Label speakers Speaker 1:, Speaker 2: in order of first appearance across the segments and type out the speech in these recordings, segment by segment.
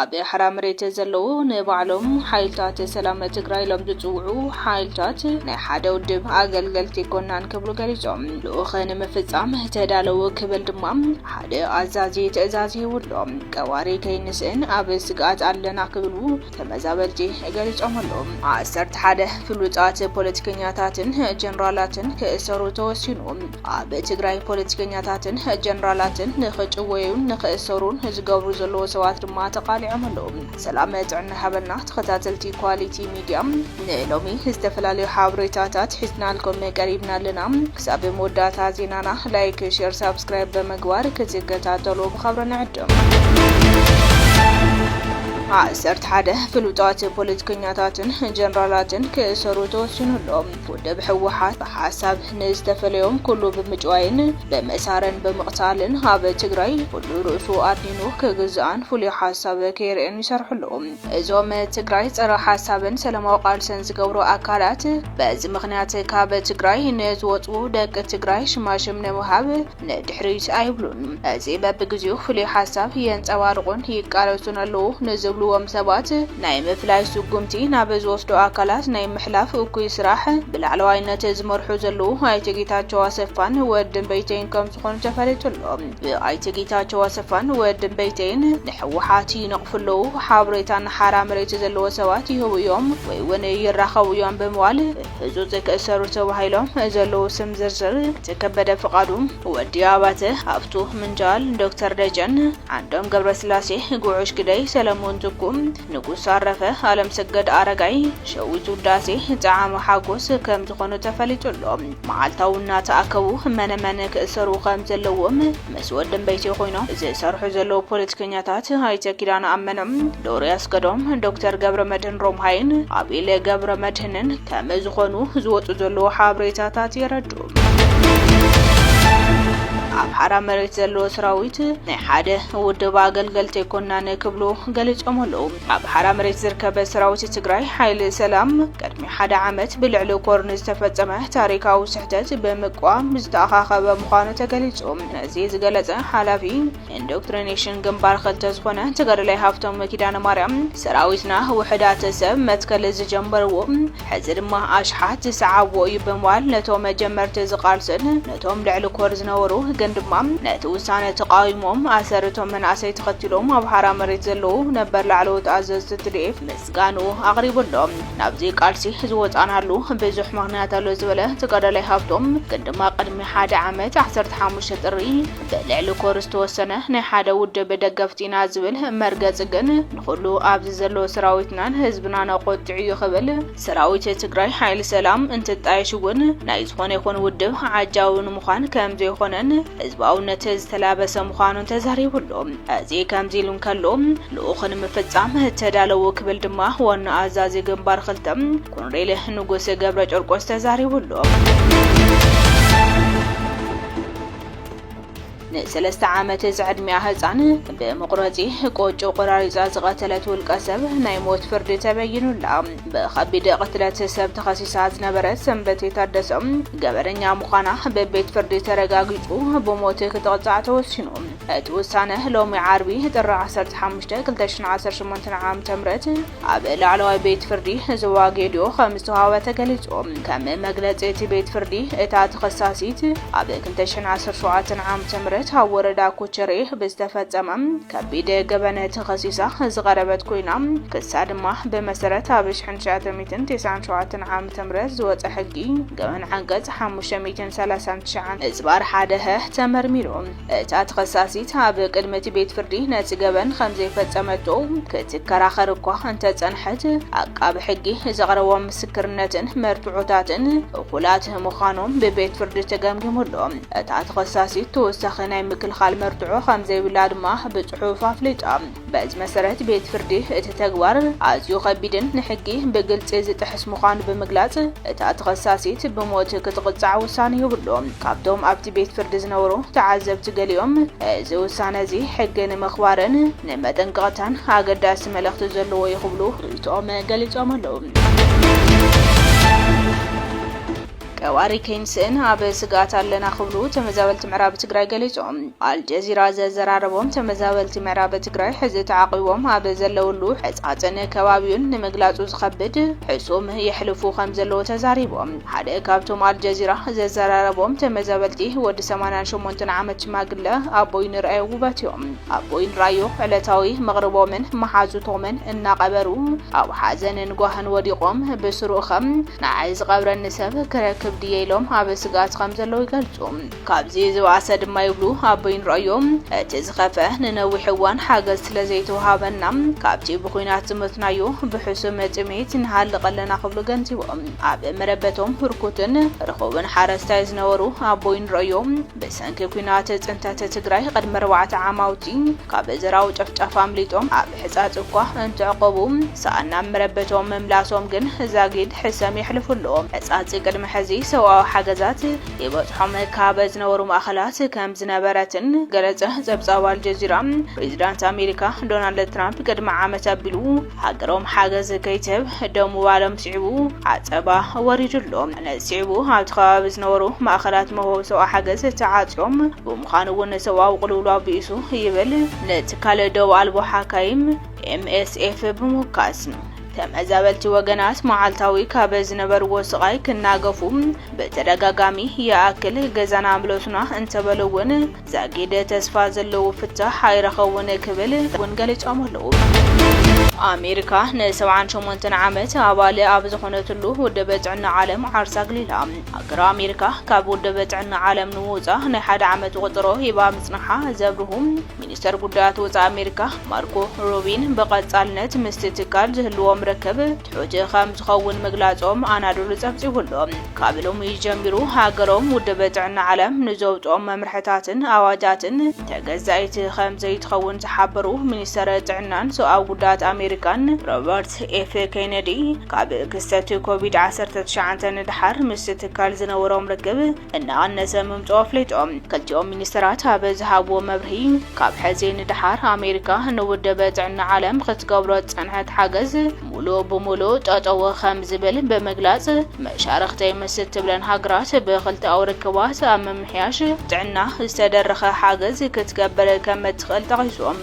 Speaker 1: ኣብ ሓራ መሬት ዘለዉ ንባዕሎም ሓይልታት ሰላም ትግራይ ኢሎም ዝፅውዑ ሓይልታት ናይ ሓደ ውድብ ኣገልገልቲ ኮናን ክብሉ ገሊፆም ልኡኽ ንምፍፃም ተዳለዉ ክብል ድማ ሓደ ኣዛዚ ትእዛዝ ሂቡሎም ቀዋሪ ከይንስእን ኣብ ስግኣት ኣለና ክብሉ ተመዛበልቲ ገሊጾም ኣለዉ። ዓሰርተ ሓደ ፍሉጣት ፖለቲከኛታትን ጀነራላትን ክእሰሩ ተወሲኑ። ኣብ ትግራይ ፖለቲከኛታትን ጀነራላትን ንኽጭወዩን ንኽእሰሩን ዝገብሩ ዘለዉ ሰባት ድማ ተቓሊዖም ኣለዉ። ሰላም ጥዕና ይሃበልና ተኸታተልቲ ኳሊቲ ሚድያ ንሎሚ ዝተፈላለዩ ሓበሬታታት ሒዝናልኩም ቀሪብና ኣለና። ክሳብ መወዳእታ ዜናና ላይክ ሼር ሳብስክራይብ ብምግባር ክትከታተሉ ብኸብሪ ንዕድም። ዓሰርተ ሓደ ፍሉጣት ፖለቲከኛታትን ጀነራላትን ክእሰሩ ተወሲኑሎም። ውድብ ህወሓት ብሓሳብ ንዝተፈለዮም ኩሉ ብምጭዋይን ብመሳረን ብምቕታልን ኣብ ትግራይ ኩሉ ርእሱ ኣድኒኑ ክግዛኣን ፍሉይ ሓሳብ ከይርእን ይሰርሕሉ። እዞም ትግራይ ፀረ ሓሳብን ሰላማዊ ቃልሰን ዝገብሩ ኣካላት በዚ ምኽንያት ካብ ትግራይ ንዝወፁ ደቂ ትግራይ ሽማሽም ንምሃብ ንድሕሪት ኣይብሉን። እዚ በብግዚኡ ፍሉይ ሓሳብ የንፀባርቑን ይቃለሱን ኣለዉ ንዝብልዎም ሰባት ናይ ምፍላይ ስጉምቲ ናብ ዝወስዱ ኣካላት ናይ ምሕላፍ እኩይ ስራሕ ብላዕለዋይነት ዝመርሑ ዘለዉ ኣይተ ጌታቸው ኣሰፋን ወዲ እምበይተይን ከምዝኾኑ ተፈሊጡ ኣሎ። ብኣይተ ጌታቸው ኣሰፋን ወዲ ቤይተይን ንሕወሓት ይነቕፉ ኣለዉ፣ ሓብሬታ ንሓራ መሬት ዘለዎ ሰባት ይህቡ እዮም ወይ ውን ይራኸቡ እዮም ብምባል ብህፁፅ ክእሰሩ ተባሂሎም ዘለዉ ስም ዝርዝር እቲ ከበደ ፍቓዱ፣ ወዲ ኣባተ፣ ሃፍቱ ምንጃል፣ ዶክተር ደጀን፣ ዓንዶም ገብረስላሴ፣ ጉዑሽ ግደይ፣ ሰለሙን ትኩ፣ ንጉስ ኣረፈ ኣለምሰገድ ኣረጋይ፣ ሸዊት ውዳሴ፣ ጸዓመ ሓጎስ ከም ዝኾኑ ተፈሊጡ ኣሎ። መዓልታዊ እናተኣከቡ መነ መን ክእሰሩ ከም ዘለዎም ምስ ወድምበይተይ ኮይኖም ዝሰርሑ ዘለዉ ፖለቲከኛታት ኣይተ ኪዳነ ኣመነ፣ ዶሪ ኣስገዶም፣ ዶክተር ገብረመድህን ሮምሃይን፣ ኣቤለ ገብረመድህንን ከም ዝኾኑ ዝወጹ ዘለዉ ሓበሬታታት የረድኡ። ኣምሓራ መሬት ዘለዎ ሰራዊት ናይ ሓደ ውድብ ኣገልገልቲ ኣይኮናን ክብሉ ገሊፆም ኣለዉ። ኣብ ሓራ መሬት ዝርከበ ሰራዊት ትግራይ ሓይሊ ሰላም ቅድሚ ሓደ ዓመት ብልዕሊ ኮር ንዝተፈፀመ ታሪካዊ ስሕተት ብምቋም ዝተኣኻኸበ ምዃኑ ተገሊፁ። ነዚ ዝገለፀ ሓላፊ ኢንዶክትሪኔሽን ግንባር ክልተ ዝኾነ ተጋዳላይ ሃፍቶም ኪዳነ ማርያም ሰራዊትና ውሕዳት ሰብ መትከል ዝጀመርዎ ሕዚ ድማ ኣሽሓት ዝሰዓብዎ እዩ ብምባል ነቶም መጀመርቲ ዝቃልስን ነቶም ልዕሊ ኮር ዝነበሩ ግን ድማ ነቲ ውሳነ ተቃዊሞም ኣሰርቶም መናእሰይ ተኸቲሎም ኣብ ሓራ መሬት ዘለዉ ነበር ላዕለዎት ኣዘዝቲ ትድኤፍ ምስጋንኡ ኣቕሪቡ ኣሎ። ናብዚ ቃልሲ ዝወፃናሉ ብዙሕ ምክንያት ኣሎ ዝበለ ተጋዳላይ ሃብቶም ግን ድማ ቅድሚ ሓደ ዓመት 15 ጥሪ ብልዕሊ ኮር ዝተወሰነ ናይ ሓደ ውድብ ደገፍቲ ኢና ዝብል መርገፂ ግን ንኹሉ ኣብዚ ዘሎ ሰራዊትናን ህዝብናን ኣቖጢዑ እዩ ክብል ሰራዊት ትግራይ ሓይሊ ሰላም እንትጣየሽ እውን ናይ ዝኾነ ይኹን ውድብ ዓጃዊ ንምዃን ከምዘይኾነን ህዝባውነት ዝተላበሰ ምዃኑን ተዛሪቡ ኣሎ። እዚ ከምዚ ኢሉ እንከሎ ልኡኽ ንምፍፃም ተዳለዉ ክብል ድማ ዋና ኣዛዚ ግንባር ክልተ ኮሎኔል ንጉስ ገብረጨርቆስ ተዛሪቡ ኣሎ። ንሰለስተ ዓመት ዝዕድሚኣ ህፃን ብመቑረፂ ቆጮ ቆራሪፃ ዝቐተለት ውልቀ ሰብ ናይ ሞት ፍርዲ ተበይኑላ። ብኸቢድ ቅትለት ሰብ ተኸሲሳ ዝነበረት ሰንበቴ ታደሰ ገበነኛ ምዃና ብቤት ፍርዲ ተረጋጊፁ ብሞት ክትቕፃዕ ተወሲኑ። እቲ ውሳነ ሎሚ ዓርቢ ጥሪ 15 2018 ዓ.ም ኣብ ላዕለዋይ ቤት ፍርዲ ዞባ ጌዲኦ ከም ዝተዋህበ ተገሊጹ። ከም መግለጺ እቲ ቤት ፍርዲ፣ እታ ተኸሳሲት ኣብ ክልተ ሽሕን ዓሰርተ ሸውዓተን ዓመተ ምህረት ኣብ ወረዳ ኩቸሬ ብዝተፈጸመ ከቢድ ገበን ተኸሲሳ ዝቐረበት ኮይና፣ ክሳ ድማ ብመሰረት ኣብ ሽሕን ትሽዓተ ሚእትን ተስዓን ሸውዓተን ዓመተ ምህረት ዝወጸ ሕጊ ገበን ዓንቀጽ ሓሙሽተ ሚእትን ሰላሳን ትሽዓን እዝባር ሓደ-ሀ ተመርሚሩ። እታ ተኸሳሲት ኣብ ቅድሚ እቲ ቤት ፍርዲ ነቲ ገበን ከም ዘይፈጸመቶ ክትከራኸር እኳ እንተጸንሐት፣ ዓቃቢ ሕጊ ዘቕረቦም ምስክርነትን መርትዖታትን እኹላት ምዃኖም ብቤት ፍርዲ ተገምጊሙ ኣሎ። እታ ተኸሳሲት ተወሳኺ ናይ ምክልኻል መርትዖ ከም ዘይብላ ድማ ብጽሑፍ ኣፍሊጣ። በዚ መሰረት ቤት ፍርዲ እቲ ተግባር ኣዝዩ ከቢድን ንሕጊ ብግልፂ ዝጥሕስ ምዃኑ ብምግላፅ እታ ተኸሳሲት ብሞት ክትቕፃዕ ውሳነ ሂቡ ኣሎ። ካብቶም ኣብቲ ቤት ፍርዲ ዝነበሩ ተዓዘብቲ ገሊኦም እዚ ውሳነ እዚ ሕጊ ንምኽባርን ንመጠንቀቕታን ኣገዳሲ መልእኽቲ ዘለዎ እዩ ክብሉ ርኢቶኦም ገሊፆም ኣለው። ቀባሪ ከይንስእን ኣብ ስግኣት ኣለና ክብሉ ተመዛበልቲ ምዕራብ ትግራይ ገሊፆም። ኣልጀዚራ ዘዘራረቦም ተመዛበልቲ ምዕራብ ትግራይ ሕዚ ተዓቑቦም ኣብ ዘለውሉ ሕፃፅን ከባቢኡን ንምግላፁ ዝኸብድ ሕሱም የሕልፉ ከምዘለዉ ተዛሪቦም። ሓደ ካብቶም ኣልጀዚራ ዘዘራረቦም ተመዛበልቲ ወዲ ሰማንያን ሸሞንተን ዓመት ሽማግለ ኣቦይ ንርኣዮ ውበት እዮም። ኣቦይ ንርኣዮ ዕለታዊ መቕርቦምን መሓዙቶምን እናቐበሩ ኣብ ሓዘንን ጓህን ወዲቖም ብስሩ'ኸ ንዓይ ዝቐብረኒ ሰብ ክረክብ ድየ ኢሎም ኣብ ስግኣት ከም ዘለዉ ይገልጹ። ካብዚ ዝበኣሰ ድማ ይብሉ ኣቦይ ንርኣዮ እቲ ዝኸፍኣ ንነዊሕ እዋን ሓገዝ ስለ ዘይተወሃበና ካብቲ ብኹናት ዝሞትናዮ ብሕሱም ጥሜት ንሃልቕ ኣለና ክብሉ ገንዚቦም። ኣብ መረበቶም ህርኩትን ርኹብን ሓረስታይ ዝነበሩ ኣቦይ ንርኣዮ ብሰንኪ ኲናት ጽንተት ትግራይ ቕድሚ ኣርባዕተ ዓማውቲ ካብ ዘራዊ ጨፍጫፍ ኣምሊጦም ኣብ ሕጻጽ እኳ እንተዕቆቡ ሳኣን ናብ መረበቶም ምምላሶም ግን ዛጊድ ሕሰም የሕልፉ ኣሎዉ። ሕጻጽ ቅድሚ ሕዚ ሰብኣዊ ሓገዛት ይበጽሖም ካብ ዝነበሩ ማእከላት ከም ዝነበረትን ገለጸ ጸብጻብ ኣልጀዚራ። ፕሪዚዳንት ኣሜሪካ ዶናልድ ትራምፕ ቅድሚ ዓመት ኣቢሉ ሃገሮም ሓገዝ ከይትህብ ደው ምባሎም ስዒቡ ዓጸባ ወሪዱ ኣሎ። ነዚ ስዒቡ ኣብቲ ከባቢ ዝነበሩ ማእከላት መውሀቢ ሰብኣዊ ሓገዝ ተዓጽዮም ብምዃኑ እውን ሰብኣዊ ቅልውላው ብኢሱ ይብል። ንትካል ዶብ ኣልቦ ሓካይም፣ MSF፣ ብምውካስ ተመዛበልቲ ወገናት መዓልታዊ ካብ ዝነበርዎ ስቓይ ክናገፉ ብተደጋጋሚ ይኣክል ገዛና ምለሱና እንተበሉ እውን ዛጊድ ተስፋ ዘለዎ ፍታሕ ኣይረኸቡን ክብል እውን ገሊፆም ኣለዉ። ኣሜሪካ ን ሰብዓን ሸሞንተን ዓመት ኣባል ኣብ ዝኾነትሉ ውድብ ጥዕና ዓለም ዓርሳ ኣግሊላ። ሃገረ ኣሜሪካ ካብ ውድብ ጥዕና ዓለም ንምውጻእ ናይ ሓደ ዓመት ቆጸሮ ሂባ ምጽናሓ ዘብርሁ ሚኒስተር ጉዳያት ወጻኢ ኣሜሪካ ማርኮ ሩቢን ብቐጻልነት ምስቲ ትካል ዝህልዎም ርክብ ትሑት ከም ዝኸውን ምግላጾም ኣናዶሉ ጸብጺቡ ኣሎ። ካብ ሎሚ ጀሚሩ ሃገሮም ውድብ ጥዕና ዓለም ንዘውጽኦም መምርሕታትን ኣዋጃትን ተገዛኢት ከም ዘይትኸውን ዝሓበሩ ሚኒስተር ጥዕናን ሰብኣዊ ጉዳያት ኣሜሪካን ሮበርት ፕረዚደንት ኤፍ ኬነዲ ካብ ክስተት ኮቪድ 19 ንደሓር ምስ ትካል ዝነበሮም ርክብ እናቐነሰ ምምፅኦ ኣፍሊጦም። ክልቲኦም ሚኒስትራት ኣብ ዝሃብዎ መብርሂ ካብ ሕዚ ንደሓር ኣሜሪካ ንውድብ ጥዕና ዓለም ክትገብሮ ዝፀንሐት ሓገዝ ሙሉእ ብሙሉእ ጠጠው ከም ዝብል ብምግላፅ መሻርኽተይ ምስ እትብለን ሃገራት ብክልተኣዊ ርክባት ኣብ ምምሕያሽ ጥዕና ዝተደረኸ ሓገዝ ክትገብር ከም እትኽእል ጠቒሶም።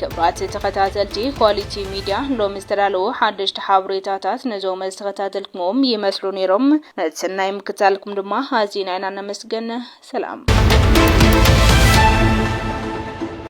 Speaker 1: ክብራት ተኸታተልቲ ኳሊቲ ሚድያ ሎሚ ዝተዳለዉ ሓደሽቲ ሓበሬታታት ነዞም ዝተኸታተልክምዎም ይመስሉ ነይሮም። ነቲ ሰናይ ምክትታልኩም ድማ ኣዚና ኢና ነመስግን። ሰላም።